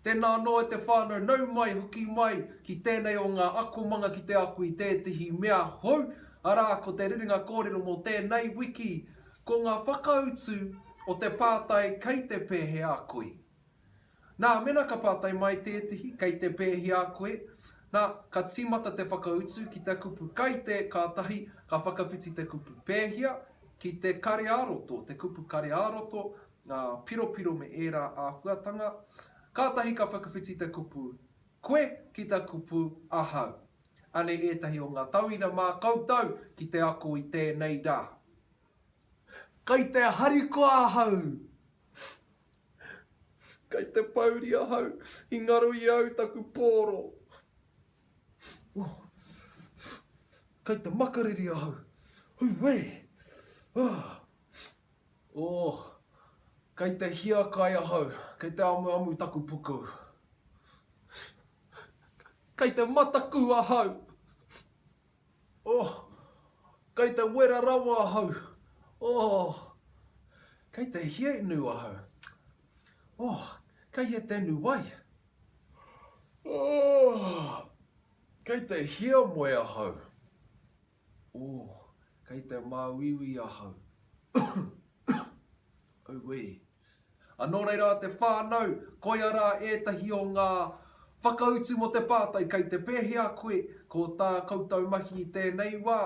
Tēnā anō e te whānau, nau mai, hoki mai ki tēnei o ngā akomanga ki te ako i tētehi mea hou, arā, ko te rerenga kōrero mō tēnei wiki, ko ngā whakautu o te pātai kei te pēhea koi. Nā, mena ka pātai mai tētehi, kei te pēhea koe? Nā, ka tīmata te whakautu ki te kupu kai te, kātahi ka whakawhiti te kupu pēhea, ki te kare-ā-roto, te kupu kare-ā-roto, ngā piropiro me ērā āhuatanga, kātahi ka whakawhiti te kupu koe ki te kupu ahau. Anei ētahi o ngā tauira mā koutou ki te ako i tēnei rā. Kai te harikoa ahau. Kai te pouri ahau. I ngaro i au taku pōro. Kai te makariri ahau. Huuwee! Aah! Ooh! Kai te hiakai ahau. Kai te amuamu taku puku. Kai te mataku ahau. Oh, kei te wera rawa ahau. Oh, kei te hiainu ahau. Oh, kei he tenu wai. Oh, kei te hiamoe ahau. Oh, kei te māuiui ahau. Auē. A nō reira te whānau, koia rā ētahi o ngā whakautu mō te pātai kei te pēhea koe, ko tā koutou mahi i tēnei wā,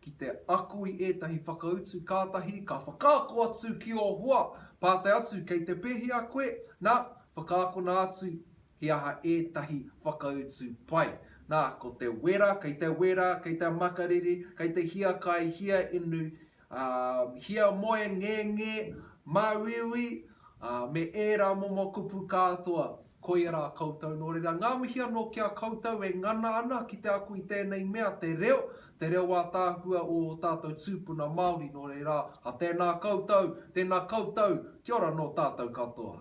ki te ako i ētahi whakautu kātahi ka whakaako atu ki ō hoa, pātai atu kei te pēhea koe, nā, whakaakona atu he aha ētahi whakautu pai. Nā, ko te wera, kei te wera, kei te makariri, kei te hiakai, hia inu, Ā, hiamoe ngēngē, māuiui, ā, me ērā momo kupu kātoa, koia rā koutou. Nō reira, ngā mihi anō ki a koutou e ngana ana ki te ako i tēnei mea, te reo, te reo ātaahua o ō tātou tūpuna Māori. Nō reira, ha tēnā koutou, tēnā koutou, kia ora nō tātou katoa.